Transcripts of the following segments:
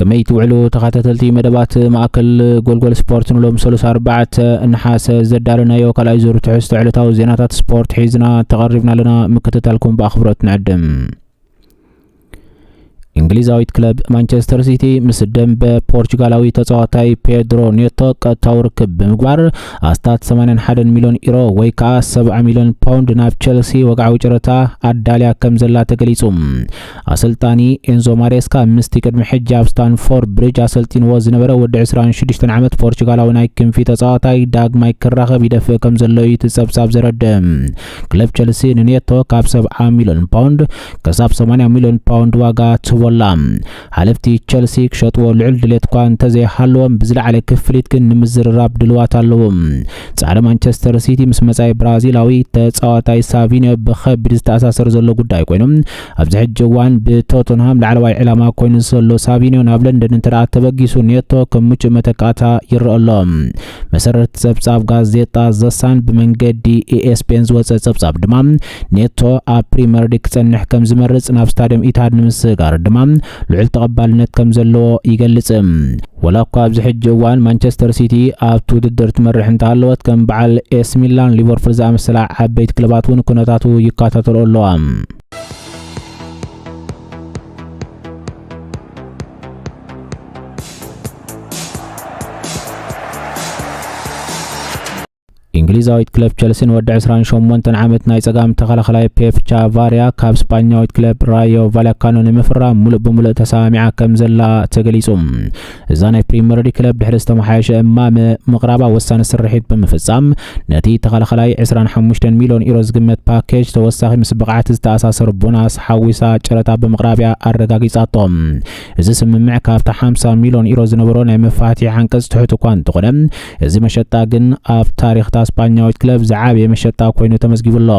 ከመይ ትውዕሉ ተኻታተልቲ መደባት ማእከል ጎልጎል ስፖርት ንሎም ሰሉስ ኣርባዕተ ነሓሰ ዘዳለናዮ ካልኣይ ዙር ትሕዝቶ ዕለታዊ ዜናታት ስፖርት ሒዝና ተቐሪብና ኣለና ምክትታልኩም ብኣኽብሮት ንዕድም እንግሊዛዊት ክለብ ማንቸስተር ሲቲ ምስ ደንበ ፖርቹጋላዊ ተጻዋታይ ፔድሮ ኔቶ ቀጥታዊ ርክብ ብምግባር ኣስታት 81 ሚልዮን ኢሮ ወይ ከዓ 70 ሚልዮን ፓውንድ ናብ ቸልሲ ወግዓዊ ጨረታ ኣዳልያ ከም ዘላ ተገሊጹ ኣሰልጣኒ ኤንዞ ማሬስካ ምስቲ ቅድሚ ሕጂ ኣብ ስታንፎርድ ብሪጅ ኣሰልጢንዎ ዝነበረ ወዲ ዕስራን ሽዱሽተን ዓመት ፖርቹጋላዊ ናይ ክንፊ ተጻዋታይ ዳግማይ ክራኸብ ይደፍእ ከም ዘሎ እዩ እቲ ጸብጻብ ዘረድእ። ክለብ ቸልሲ ንኔቶ ካብ ሰብዓ ሚልዮን ፓውንድ ክሳብ ሰማንያ ሚልዮን ፓውንድ ዋጋ ትህቦ ኣላ። ሓለፍቲ ቸልሲ ክሸጥዎ ልዑል ድሌት'ኳ እንተዘይሃለዎም ብዝለዓለ ክፍሊት ግን ንምዝርራብ ድሉዋት ኣለዉ። ጻዕሪ ማንቸስተር ሲቲ ምስ መጻኢ ብራዚላዊ ተጻዋታይ ሳቪንዮ ብኸቢድ ዝተኣሳሰር ዘሎ ጉዳይ ኮይኑ፣ ኣብዚ ሕጂ እዋን ብቶተንሃም ላዕለዋይ ዕላማ ኮይኑ ዘሎ ሳቪንዮ ናብ ለንደን እንተደኣ ተበጊሱ ኔቶ ከም ምቹእ መተካእታ ይረኣ ኣሎ። መሰረት ጸብጻብ ጋዜጣ ዘሳን ብመንገዲ ኤኤስፔን ዝወጸ ጸብጻብ ድማ ኔቶ ኣብ ፕሪመር ሊግ ክጸንሕ ከም ዝመርጽ ናብ ስታድዮም ኢትሃድ ንምስግጋር ድማ ልዑል ተቐባልነት ከም ዘለዎ ይገልጽ። ወላ እኳ ኣብዚ ሕጂ እዋን ማንቸስተር ሲቲ ኣብቲ ውድድር ትመርሕ እንተሃለወት ከም በዓል ኤስ ሚላን ሊቨርፑል ዝኣመሰላ ዓበይቲ ክለባት እውን ኩነታቱ ይከታተልኦ ኣለዋ። እንግሊዛዊት ክለብ ቸልሲ ንወዲ 28 ዓመት ናይ ጸጋም ተኸላኸላይ ፔፕ ቻቫርያ ካብ ስጳኛዊት ክለብ ራዮ ቫላካኖ ንምፍራም ሙሉእ ብምሉእ ተሰማሚዓ ከም ዘላ ተገሊጹ። እዛ ናይ ፕሪምየር ሊግ ክለብ ድሕሪ ዝተመሓየሸ እማመ ምቕራባ ወሳኒ ስርሒት ብምፍጻም ነቲ ተኸላኸላይ 25 ሚልዮን ዩሮ ዝግመት ፓኬጅ ተወሳኺ ምስ ብቕዓት ዝተኣሳሰሩ ቦናስ ሓዊሳ ጨረታ ብምቕራብያ ኣረጋጊጻቶ። እዚ ስምምዕ ካብቲ 50 ሚልዮን ዩሮ ዝነበሮ ናይ መፋትሒ ዓንቀጽ ትሑት እኳ እንተኾነ እዚ መሸጣ ግን ኣብ ታሪኽ እታ ስጳኛዊት ክለብ ዝዓበየ መሸጣ ኮይኑ ተመዝጊቡ ኣሎ።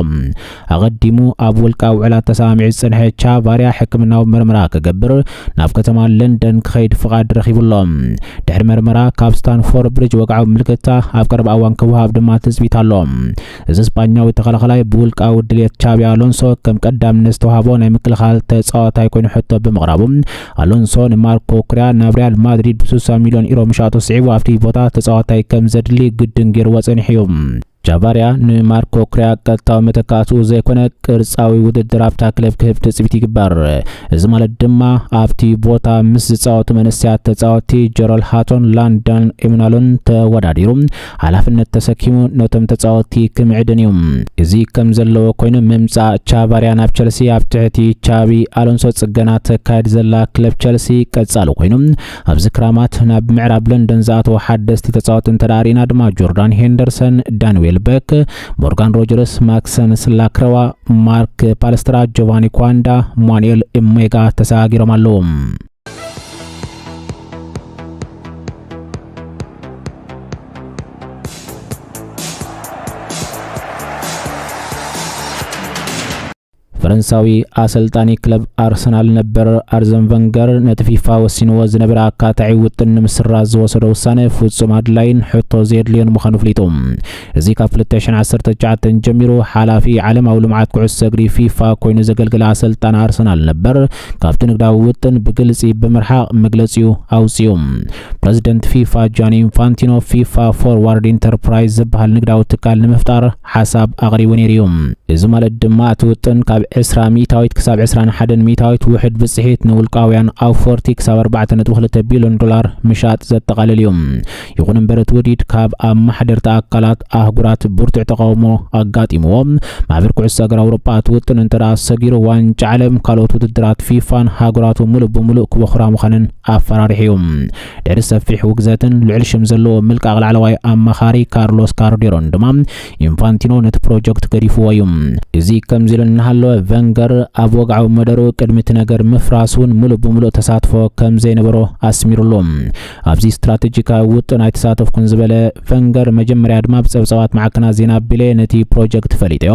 ኣቐዲሙ ኣብ ውልቃዊ ውዕላት ተሰማሚዑ ዝጸንሐ ቻቫርያ ሕክምናዊ መርመራ ክገብር ናብ ከተማ ለንደን ክኸይድ ፍቓድ ረኺቡ ኣሎ። ድሕሪ መርመራ ካብ ስታንፎርድ ብሪጅ ወግዓዊ ምልክታ ኣብ ቀረባ እዋን ክወሃብ ድማ ትጽቢት ኣሎ። እዚ ስጳኛዊ ተኸላኻላይ ብውልቃዊ ድሌት ቻቢ ኣሎንሶ ከም ቀዳምነት ዝተዋህቦ ናይ ምክልኻል ተጻዋታይ ኮይኑ ሕቶ ብምቕራቡ ኣሎንሶ ንማርኮ ኩርያ ናብ ሪያል ማድሪድ ብ60 ሚልዮን ኢሮ ምሻጡ ስዒቡ ኣብቲ ቦታ ተጻዋታይ ከም ዘድሊ ግድን ገይርዎ ጸኒሑ እዩ። ጃቫርያ ንማርኮ ኩርያ ቀጥታዊ መተካእትኡ ዘይኮነ ቅርጻዊ ውድድር ኣብታ ክለብ ክህብ ትጽቢት ይግበር። እዚ ማለት ድማ ኣብቲ ቦታ ምስ ዝጻወቱ መንእሰያት ተጻወትቲ ጀሮል ሃቶን ላንዳን ኤምናሎን ተወዳዲሩ ሓላፍነት ተሰኪሙ ነቶም ተጻወትቲ ክምዕድን እዩ። እዚ ከም ዘለዎ ኮይኑ ምምጻእ ቻቫርያ ናብ ቸልሲ ኣብ ትሕቲ ቻቢ ኣሎንሶ ጽገና ተካይድ ዘላ ክለብ ቸልሲ ቀጻሊ ኮይኑ ኣብዚ ክራማት ናብ ምዕራብ ለንደን ዝኣተዉ ሓደስቲ ተጻወቲ እንተደኣ ርኢና ድማ ጆርዳን ሄንደርሰን፣ ዳን ዌልበክ፣ ሞርጋን ሮጀርስ፣ ማክሰንስ ላክረዋ፣ ማርክ ፓልስትራ፣ ጆቫኒ ኳንዳ፣ ማኑኤል እሜጋ ተሰጋጊሮም ኣለዉ። ፈረንሳዊ ኣሰልጣኒ ክለብ ኣርሰናል ነበር ኣርዘን ቨንገር ነቲ ፊፋ ወሲንዎ ዝነበረ ኣካታዒ ውጥን ንምስራዝ ዝወሰዶ ውሳነ ፍጹም ኣድላይን ሕቶ ዘየድልዮን ምዃኑ ኣፍሊጡ እዚ ካብ ክልተ ሽሕን ዓሰርተ ትሽዓተን ጀሚሩ ሓላፊ ዓለማዊ ልምዓት ኩዕሶ እግሪ፣ ፊፋ፣ ኮይኑ ዘገልገለ ኣሰልጣኒ ኣርሰናል ነበር፣ ካብቲ ንግዳዊ ውጥን ብግልጺ ብምርሓቕ መግለጺኡ ኣውጺኡ። ፕረዚደንት ፊፋ ጃኒ ኢንፋንቲኖ፣ ፊፋ ፎርዋርድ ኢንተርፕራይዝ ዝበሃል ንግዳዊ ትካል ንምፍጣር ሓሳብ ኣቕሪቡ ነይሩ እዩ። እዚ ማለት ድማ እቲ ውጥን ካብ ዕስራ ሚእታዊት ክሳብ ዕስራን ሓደን ሚእታዊት ውሕድ ብጽሒት ንውልቃውያን ኣውፈርቲ ክሳብ ኣርባዕተ ነጥቢ ክልተ ቢልዮን ዶላር ምሻጥ ዘጠቓልል እዩ። ይኹን እምበር እቲ ውዲት ካብ ኣማሓደርቲ ኣካላት ኣህጉራት ብርቱዕ ተቓውሞ ኣጋጢምዎ። ማሕበር ኩዕሶ እግሪ ኣውሮጳ እቲ ውጥን እንተደኣ ሰጊሩ ዋንጫ ዓለም ካልኦት ውድድራት ፊፋን ሃገራቱ ምሉእ ብምሉእ ክበኹራ ምዃነን ኣፈራሪሑ እዩ። ድሕሪ ሰፊሕ ውግዘትን ልዑል ሽም ዘለዎ ምልቃቕ ላዕለዋይ ኣማኻሪ ካርሎስ ካርዴሮን ድማ ኢንፋንቲኖ ነቲ ፕሮጀክት ገዲፍዎ እዩ። እዚ ከምዚ ኢሉ እናሃለወ ቨንገር ኣብ ወግዓዊ መደሩ ቅድሚ እቲ ነገር ምፍራስ እውን ምሉእ ብምሉእ ተሳትፎ ከም ዘይነበሮ ኣስሚሩሉ። ኣብዚ ስትራተጂካዊ ውጥን ኣይተሳተፍኩን ዝበለ ፈንገር፣ መጀመርያ ድማ ብጸብጻባት ማዕከናት ዜና ኣቢለ ነቲ ፕሮጀክት ፈሊጠዮ።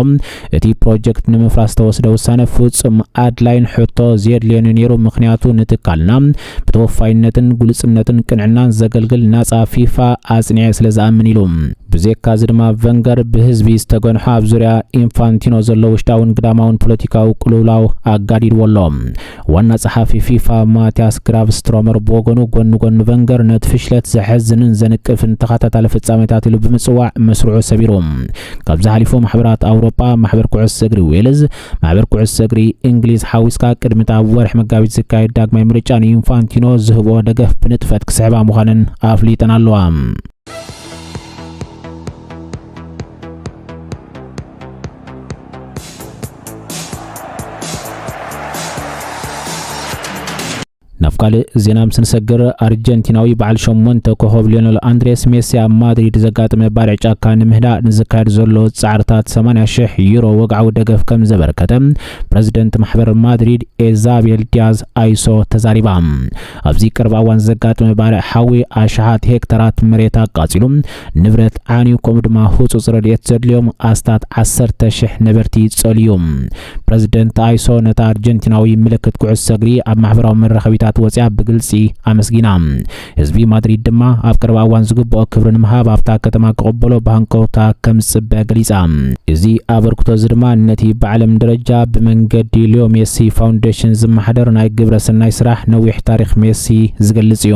እቲ ፕሮጀክት ንምፍራስ ዝተወስደ ውሳነ ፍጹም ኣድላይን ሕቶ ዘየድልዮን'ዩ ነይሩ፣ ምኽንያቱ ንትካልና ብተወፋይነትን ግሉጽነትን ቅንዕናን ዘገልግል ናጻ ፊፋ ኣጽኒዐ ስለ ዝኣምን ኢሉ። ብዜካ'ዚ ድማ ፈንገር ብህዝቢ ዝተገንሖ ኣብ ዙርያ ኢንፋንቲኖ ዘሎ ውሽጣውን ግዳማውን ፖለቲካዊ ቅልውላው ኣጋዲድዎ ኣሎ። ዋና ጸሓፊ ፊፋ ማቲያስ ግራቭስትሮመር ብወገኑ፣ ጎኒ ጎኒ ቨንገር ነቲ ፍሽለት ዘሕዝንን ዘንቅፍን ተኸታታሊ ፍጻሜታት ኢሉ ብምጽዋዕ መስርዑ ሰቢሩ። ካብዚ ሓሊፉ ማሕበራት ኣውሮጳ፣ ማሕበር ኩዕሶ እግሪ ዌልዝ፣ ማሕበር ኩዕሶ እግሪ እንግሊዝ ሓዊስካ ቅድሚ'ቲ ኣብ ወርሒ መጋቢት ዝካየድ ዳግማይ ምርጫ ንኢንፋንቲኖ ዝህብኦ ደገፍ ብንጥፈት ክስሕባ ምዃነን ኣፍሊጠን ኣለዋ። ናብ ካልእ ዜና ምስ ንሰግር ኣርጀንቲናዊ በዓል ሸሞንተ ኮኸብ ሊዮነል ኣንድሬስ ሜሲ ኣብ ማድሪድ ዘጋጥመ ባርዕ ጫካ ንምህዳእ ንዝካየድ ዘሎ ጻዕርታት 80 ሽሕ ዩሮ ወግዓዊ ደገፍ ከም ዘበርከተ ፕረዚደንት ማሕበር ማድሪድ ኤዛቤል ዲያዝ ኣይሶ ተዛሪባ። ኣብዚ ቅርብ ኣዋን ዘጋጥመ ባርዕ ሓዊ ኣሽሓት ሄክተራት መሬት ኣቃጺሉ ንብረት ዓንዩ ከምኡ ድማ ህጹጽ ረድኤት ዘድልዮም ኣስታት ዓሰርተ ሽሕ ነበርቲ ጸልዩ። ፕረዚደንት ኣይሶ ነታ ኣርጀንቲናዊ ምልክት ኩዕሶ እግሪ ኣብ ማሕበራዊ መራኸቢታት ወጺኣ ብግልጺ ኣመስጊና። ህዝቢ ማድሪድ ድማ ኣብ ቅርብ ኣዋን ዝግብኦ ክብሪ ንምሃብ ኣብታ ከተማ ክቕበሎ ብሃንቀውታ ከም ዝጽበ ገሊጻ። እዚ ኣበርክቶ እዚ ድማ ነቲ ብዓለም ደረጃ ብመንገዲ ሊዮ ሜሲ ፋውንዴሽን ዝመሓደር ናይ ግብረ ሰናይ ስራሕ ነዊሕ ታሪኽ ሜሲ ዝገልጽ እዩ።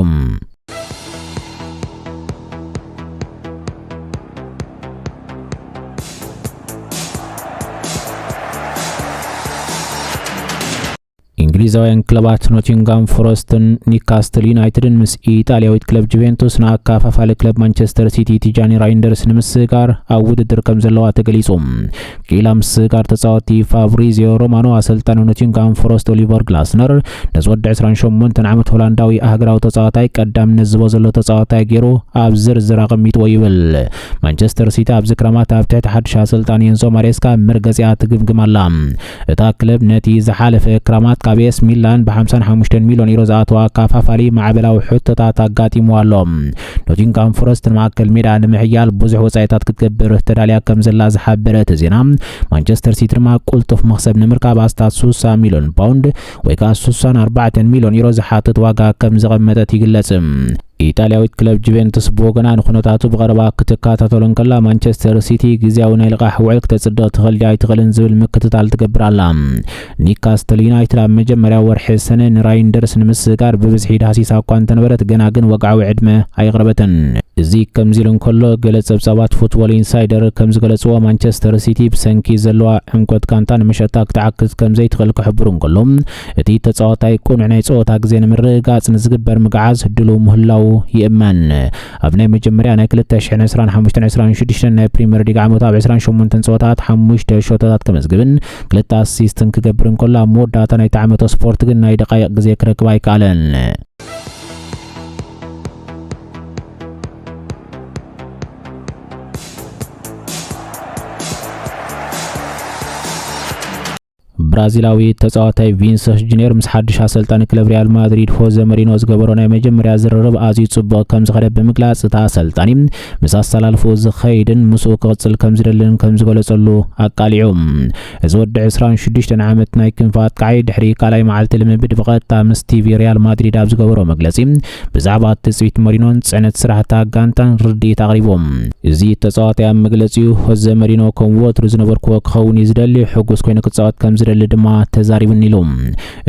እንግሊዛውያን ክለባት ኖቲንጋም ፎረስትን ኒካስትል ዩናይትድን ምስ ኢጣልያዊት ክለብ ጁቬንቱስ ንኣካፋፋሊ ክለብ ማንቸስተር ሲቲ ቲጃኒ ራይንደርስ ንምስጋር ኣብ ውድድር ከም ዘለዋ ተገሊጹ ኪላ ምስጋር ተጻወቲ ፋብሪዚዮ ሮማኖ ኣሰልጣኒ ኖቲንጋም ፎረስት ኦሊቨር ግላስነር ነዚ ወዲ 28 ዓመት ሆላንዳዊ ሃገራዊ ተጻዋታይ ቀዳምነት ዝቦ ዘሎ ተጻዋታይ ገይሩ ኣብ ዝርዝር ኣቐሚጥዎ ይብል ማንቸስተር ሲቲ ኣብዚ ክረማት ኣብ ትሕቲ ሓድሽ ኣሰልጣኒ ኤንዞ ማሬስካ መርገጺኣ ትግምግም ኣላ እታ ክለብ ነቲ ዝሓለፈ ክራማት ካብ ኤስ ሚላን ብ55 ሚልዮን ዩሮ ዝኣተዋ ኣካፋፋሊ ማዕበላዊ ሕቶታት ኣጋጢምዋ ኣሎ። ኖቲንግሃም ፎረስት ንማእከል ሜዳ ንምሕያል ብዙሕ ወጻኢታት ክትገብር ተዳልያ ከም ዘላ ዝሓበረ እቲ ዜና፣ ማንቸስተር ሲቲ ድማ ቅልጡፍ መኽሰብ ንምርካብ ኣስታት 60 ሚልዮን ፓውንድ ወይ ከኣ ስሳን ኣርባዕተን ሚልዮን ዩሮ ዝሓትት ዋጋ ከም ዘቐመጠት ይግለጽ። ኢጣልያዊት ክለብ ጁቬንቱስ ብወገና ንኩነታቱ ብቐረባ ክትከታተሎ እንከላ፣ ማንቸስተር ሲቲ ግዝያዊ ናይ ልቓሕ ውዕል ክተጽድቕ ትኽእል ድያ ኣይትኽእልን ዝብል ምክትታል ትገብር ኣላ። ኒውካስትል ዩናይትድ ኣብ መጀመርያ ወርሒ ሰነ ንራይንደርስ ንምስግጋር ብብዝሒ ዳህሲሳ እኳ እንተነበረት ገና ግን ወግዓዊ ዕድመ ኣየቕረበትን። እዚ ከምዚ ኢሉ እንከሎ፣ ገለ ጸብጻባት ፉትቦል ኢንሳይደር ከም ዝገለጽዎ፣ ማንቸስተር ሲቲ ብሰንኪ ዘለዋ ዕምቆት ጋንታ ንመሸጣ ክትዓግት ከም ዘይትኽእል ክሕብሩ እንከሎ፣ እቲ ተጻዋታይ ቅኑዕ ናይ ጸወታ ግዜ ንምርግጋጽ ንዝግበር ምግዓዝ ድሉው ምህላዉ ይእመን። ኣብ ናይ መጀመርያ ናይ ክልተ ሽሕን ዕስራን ሓሙሽተን ዕስራን ሽዱሽተን ናይ ፕሪመር ሊግ ዓመቱ ኣብ ዕስራን ሸሞንተን ጸወታታት ሓሙሽተ ሸቶታት ከመዝግብን ክልተ ኣሲስትን ክገብር እንከሎ፣ ኣብ መወዳእታ ናይቲ ዓመቶ ስፖርት ግን ናይ ደቓይቕ ግዜ ክረክብ ኣይከኣለን። ብራዚላዊ ተጻዋታይ ቪንሰስ ጁኒየር ምስ ሓድሽ ኣሰልጣኒ ክለብ ሪያል ማድሪድ ሆዘ መሪኖ ዝገበሮ ናይ መጀመርያ ዝርርብ ኣዝዩ ጽቡቕ ከም ዝኸደ ብምግላጽ እቲ ኣሰልጣኒ ምስ ኣሰላልፎ ዝኸይድን ምስኡ ክቕጽል ከም ዝደልን ከም ዝገለጸሉ ኣቃሊዑ እዚ ወዲ ዕስራን ሽዱሽተን ዓመት ናይ ክንፊ ኣጥቃዓይ ድሕሪ ካልኣይ መዓልቲ ልምምድ ብቐጥታ ምስ ቲቪ ሪያል ማድሪድ ኣብ ዝገበሮ መግለጺ ብዛዕባ ትጽቢት መሪኖን ጽዕነት ስራሕ እታ ጋንታን ርድኢት ኣቕሪቡ። እዚ ተጻዋታይ ኣብ መግለጺኡ ሆዘ መሪኖ ከም ወትሩ ዝነበርኩዎ ክኸውን እዩ ዝደሊ፣ ሕጉስ ኮይኑ ክጻወት ከም ዝደሊ ድማ ተዛሪቡኒ ኢሉ።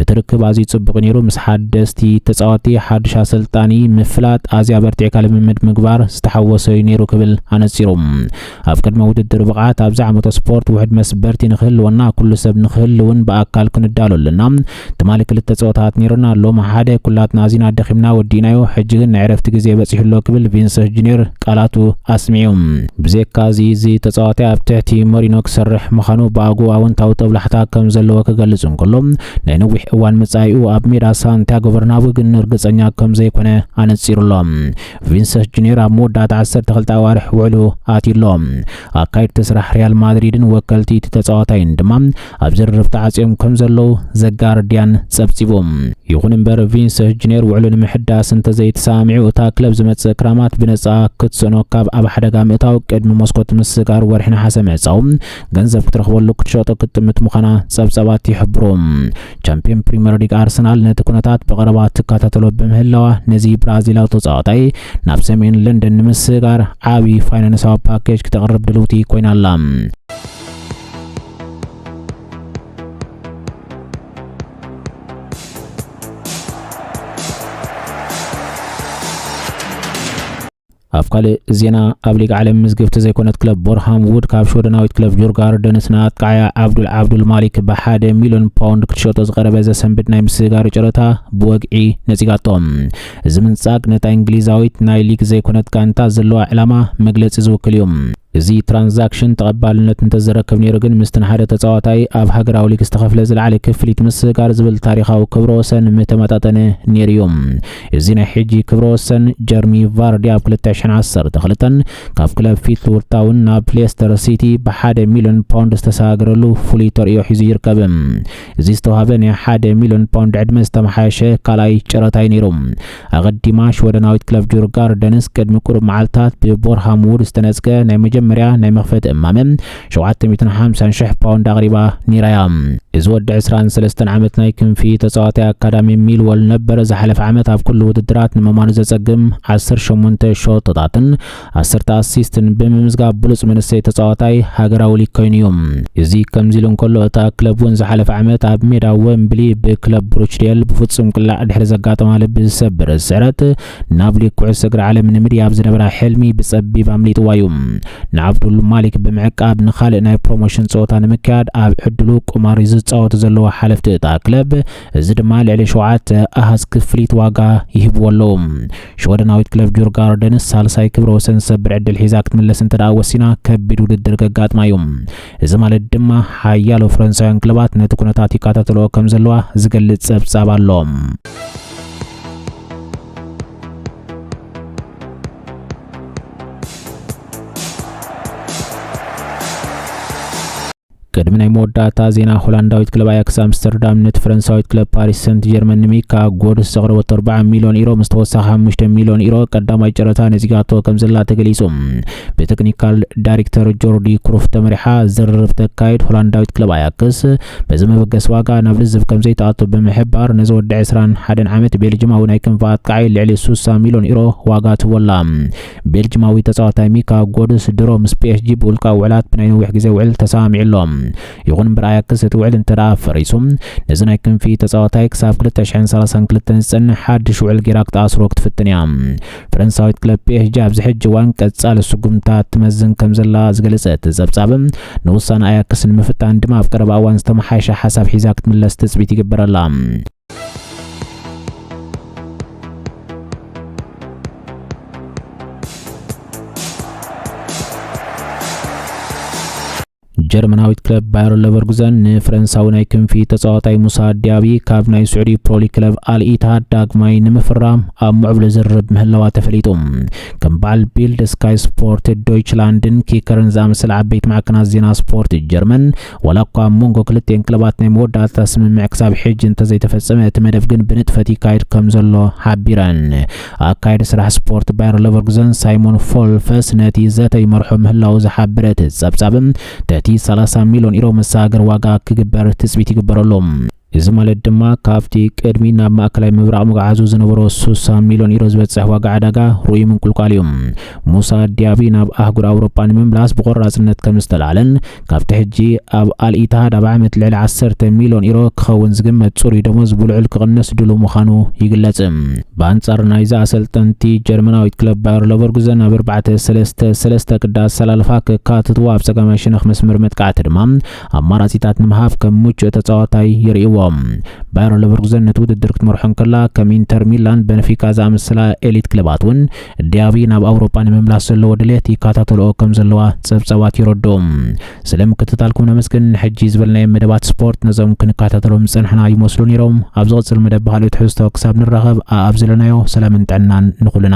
እቲ ርክብ ኣዝዩ ጽቡቕ እዩ ነይሩ፣ ምስ ሓደስቲ ተጻወቲ፣ ሓድሽ ኣሰልጣኒ፣ ምፍላጥ፣ ኣዝዩ ኣበርቲዕካ ልምምድ ምግባር ዝተሓወሶ እዩ ነይሩ ክብል ኣነጺሩ። ኣብ ቅድመ ውድድር ብቕዓት ኣብዚ ዓመተ ስፖርት ውሕድ መስበርቲ ንክህልወና ኩሉ ሰብ ንክህልውን ብኣካል ክንዳሎ ኣለና። ትማሊ ክልተ ጸወታታት ነይሩና፣ ሎሚ ሓደ፣ ኩላትና ኣዚና ደኺምና ወዲእናዮ፣ ሕጂ ግን ናይ ዕረፍቲ ግዜ በጺሑ ኣሎ ክብል ቪንሰስ ጁንዮር ቃላቱ ኣስሚዑ። ብዘይካ'ዚ እዚ ተጻዋታይ ኣብ ትሕቲ መሪኖ ክሰርሕ ምኻኑ ብኣግኡ ኣወንታዊ ጦብላሕታ ከም ዘለዎ ክገልጽ እንከሎ፣ ናይ ነዊሕ እዋን መጻኢኡ ኣብ ሜዳ ሳንቲያጎ በርናቡ ግን ርግጸኛ ከም ዘይኮነ ኣነጺሩ ኣሎ። ቪንሰስ ጁኒየር ኣብ መወዳእታ 12 ኣዋርሕ ውዕሉ ኣትዩ ኣሎ። ኣካየድቲ ስራሕ ሪያል ማድሪድን ወከልቲ እቲ ተጻዋታይን ድማ ኣብ ዝርርብ ተዓጽዮም ከም ዘለዉ ዘጋርድያን ጸብጺቡ። ይኹን እምበር ቪንሰስ ጁኒየር ውዕሉ ንምሕዳስ እንተዘይተሰማሚዑ እታ ክለብ ዝመጽእ ክራማት ብነጻ ክትስእኖ ካብ ኣብ ሓደጋ ምእታው ቅድሚ መስኮት ምስጋር ወርሒ ነሓሰ ምዕጻው ገንዘብ ክትረኽበሉ ክትሸጦ ክትጥምት ምዃና ጸብጻባት ይሕብሩ። ቻምፒዮን ፕሪምየር ሊግ ኣርሰናል ነቲ ኩነታት ብቐረባ ትከታተሎ ብምህላዋ ነዚ ብራዚላዊ ተጻዋታይ ናብ ሰሜን ለንደን ንምስጋር ዓቢ ፋይናንሳዊ ፓኬጅ ክተቕርብ ድልውቲ ኮይና ኣላ ኣብ ካልእ ዜና ኣብ ሊግ ዓለም ምዝግብቲ ዘይኮነት ክለብ ቦርሃም ውድ ካብ ሽወደናዊት ክለብ ጆርጋርደንስ ንኣጥቃዓያ ዓብዱል ዓብዱል ማሊክ ብሓደ ሚልዮን ፓውንድ ክትሸጦ ዝቐረበ ዘሰንብድ ናይ ምስግጋሪ ጨረታ ብወግዒ ነጺጋቶ እዚ ምንጻግ ነታ እንግሊዛዊት ናይ ሊግ ዘይኮነት ጋንታ ዘለዋ ዕላማ መግለጺ ዝውክል እዩ እዚ ትራንዛክሽን ተቐባልነት እንተዝረክብ ነይሩ ግን ምስቲ ንሓደ ተጻዋታይ ኣብ ሃገራዊ ሊግ ዝተኸፍለ ዝለዓለ ክፍሊት ምስጋር ዝብል ታሪኻዊ ክብረ ወሰን ምተመጣጠነ ነይሩ'ዩ። እዚ ናይ ሕጂ ክብረ ወሰን፣ ጀርሚ ቫርዲ ኣብ ክልተ ሽሕን ዓሰርተ ክልተን ካብ ክለብ ፊትልዉድ ታውን ናብ ሌስተር ሲቲ ብሓደ ሚልዮን ፓውንድ ዝተሰጋገረሉ ፍሉይ ተርእዮ ሒዙ ይርከብ። እዚ ዝተዋህበ ናይ ሓደ ሚልዮን ፓውንድ ዕድመ ዝተመሓየሸ ካልኣይ ጨረታ'ዩ ነይሩ። ኣቐዲማ ሽወደናዊት ክለብ ጁርጋርደንስ ቅድሚ ቁሩብ መዓልታት ብቦርሃም ውድ ዝተነጽገ ናይ መጀመርያ ናይ መኽፈቲ እማመ ሸውዓተ ሚእትን ሓምሳን ሽሕ ፓውንድ ኣቕሪባ ኔራ እያ። እዚ ወዲ ዕስራን ሰለስተን ዓመት ናይ ክንፊ ተጻዋታይ ኣካዳሚ ሚልወል ነበረ ዝሓለፈ ዓመት ኣብ ኩሉ ውድድራት ንምማኑ ዘጸግም ዓሰርተ ሸሞንተ ሸቶታትን ዓሰርተ ኣሲስት ብምምዝጋብ ብሉጽ መንእሰይ ተጻዋታይ ሃገራዊ ሊግ ኮይኑ'ዩ። እዚ ከምዚ'ሉ እንከሎ እታ ክለብ'ውን ዝሓለፈ ዓመት ኣብ ሜዳ ወምብሊ ብክለብ ብሩችዴል ብፍጹም ቅላዕ ድሕሪ ዘጋጠማ ልቢ ዝሰብር ስዕረት ናብ ሊግ ኩዕሶ እግሪ ዓለም ንምድያብ ዝነበራ ሕልሚ ብጸቢብ ኣምሊጥዋ'ዩ። ንዓብዱል ማሊክ ብምዕቃብ ንኻልእ ናይ ፕሮሞሽን ጸወታ ንምክያድ ኣብ ዕድሉ ቁማር'ዩ ዝጻወቱ ዘለዉ ሓለፍቲ እታ ክለብ እዚ ድማ ልዕሊ ሸውዓተ ኣሃዝ ክፍሊት ዋጋ ይህብዎ ኣለዉ። ሽወደናዊት ክለብ ጁርጋርደንስ ሳልሳይ ክብረ ወሰን ዝሰብር ዕድል ሒዛ ክትምለስ እንተደኣ ወሲና ከቢድ ውድድር ከጋጥማ እዩ። እዚ ማለት ድማ ሓያሎ ፈረንሳውያን ክለባት ነቲ ኩነታት ይከታተልኦ ከም ዘለዋ ዝገልጽ ጸብጻብ ኣሎ። ቅድሚ ናይ መወዳእታ ዜና ሆላንዳዊት ክለብ ኣያክስ ኣምስተርዳም ነቲ ፈረንሳዊት ክለብ ፓሪስ ሰንት ጀርመን ንሚካ ጎድስ ዘቕረበቶ 40 ሚልዮን ኢሮ ምስ ተወሳኺ 5 ሚልዮን ኢሮ ቀዳማይ ጨረታ ነጺጋቶ ከም ዘላ ተገሊጹ። ብቴክኒካል ዳይሬክተር ጆርዲ ክሩፍ ተመሪሓ ዝርርብ ተካይድ ሆላንዳዊት ክለብ ኣያክስ በዚ መበገሲ ዋጋ ናብ ልዝብ ከም ዘይተኣቶ ብምሕባር ነዚ ወዲ 21 ዓመት ቤልጅማዊ ናይ ክንፊ ኣጥቃዓይ ልዕሊ 60 ሚልዮን ኢሮ ዋጋ ትህቦ ኣላ። ቤልጅማዊ ተጻዋታይ ሚካ ጎድስ ድሮ ምስ ፒኤስጂ ብውልቃዊ ውዕላት ብናይ ነዊሕ ግዜ ውዕል ተሰማሚዑ ኣሎ። ይኹን እምበር ኣያክስ እቲ ውዕል እንተደኣ ፈሪሱ ነዚ ናይ ክንፊ ተጻዋታይ ክሳብ ክልተ ሽሕን ሰላሳን ክልተን ዝጸንሕ ሓድሽ ውዕል ገይራ ክትኣስሮ ክትፍትን እያ። ፈረንሳዊት ክለብ ፒኤስጂ ኣብዚ ሕጂ እዋን ቀጻሊ ስጉምትታት ትመዝን ከምዘላ ዝገለጸ እቲ ጸብጻብ ንውሳነ ኣያክስ ንምፍታን ድማ ኣብ ቀረባ እዋን ዝተመሓየሸ ሓሳብ ሒዛ ክትምለስ ትጽቢት ይግበረላ። ጀርመናዊት ክለብ ባየር ለቨርጉዘን ንፈረንሳዊ ናይ ክንፊ ተጻዋታይ ሙሳ ዲያቢ ካብ ናይ ስዑዲ ፕሮሊ ክለብ ኣልኢታሃድ ዳግማይ ንምፍራም ኣብ ምዕብሉ ዝርብ ምህላዋ ተፈሊጡ ከም በዓል ቢልድ ስካይ ስፖርት ዶይችላንድን ኪከርን ዝኣመሰለ ዓበይቲ ማዕከናት ዜና ስፖርት ጀርመን ዋላ እኳ ኣብ መንጎ ክልቲኤን ክለባት ናይ መወዳእታ ስምምዕ ክሳብ ሕጂ እንተዘይተፈጸመ እቲ መደብ ግን ብንጥፈት ይካየድ ከምዘሎ ሓቢረን። ኣካየዲ ስራሕ ስፖርት ባየር ለቨርኩዘን ሳይሞን ፎልፈስ ነቲ ዘተ ይመርሖ ምህላዉ ዝሓበረ እቲ ጸብጻብ ተቲ ሰላሳ ሚልዮን ኢሮ መሰጋገሪ ዋጋ ክግበር ትጽቢት ይግበረሉ። እዚ ማለት ድማ ካብቲ ቅድሚ ናብ ማእከላይ ምብራቕ ምግዓዙ ዝነበሮ ስሳ ሚልዮን ዩሮ ዝበጽሕ ዋጋ ዕዳጋ ርኡይ ምንቁልቋል እዩ። ሙሳ ዲያቢ ናብ ኣህጉር ኣውሮጳ ንምምላስ ብቖራጽነት ከም ዝተላዕለን ካብቲ ሕጂ ኣብ ኣል ኢትሃድ ኣብ ዓመት ልዕሊ ዓሰርተ ሚልዮን ዩሮ ክኸውን ዝግመት ጽሩይ ደሞዝ ብልዑል ክቕንስ ድሉው ምዃኑ ይግለጽ። ብኣንጻር ናይዚ ኣሰልጠንቲ፣ ጀርመናዊት ክለብ ባየር ለቨርጉዘን ኣብ ኣርባዕተ ሰለስተ ሰለስተ ቅዲ ኣሰላልፋ ከካትትዎ ኣብ ጸጋማይ ሸነኽ መስመር መጥቃዕቲ ድማ ኣማራጺታት ንምሃብ ከም ምቹእ ተጻዋታይ ይርእይዎ። ባየር ለቨርኩዘን ነቲ ውድድር ክትመርሖ እንከላ፣ ከም ኢንተር ሚላን፣ በንፊካ ዝኣመሰላ ኤሊት ክለባት እውን ዲያቢ ናብ ኣውሮጳ ንምምላስ ዘለዎ ድሌት ይከታተልኦ ከም ዘለዋ ጸብጻባት የረድኡ። ስለ ምክትታልኩም ነመስግን። ንሕጂ ዝበልናዮም መደባት ስፖርት ነዞም ክንከታተሎም ዝጸናሕና ይመስሉ ነይሮም። ኣብ ዝቕጽል መደብ ብኻልእ ትሕዝቶ ክሳብ ንራኸብ፣ ኣኣብ ዘለናዮ ሰላምን ጥዕናን ንኹልና።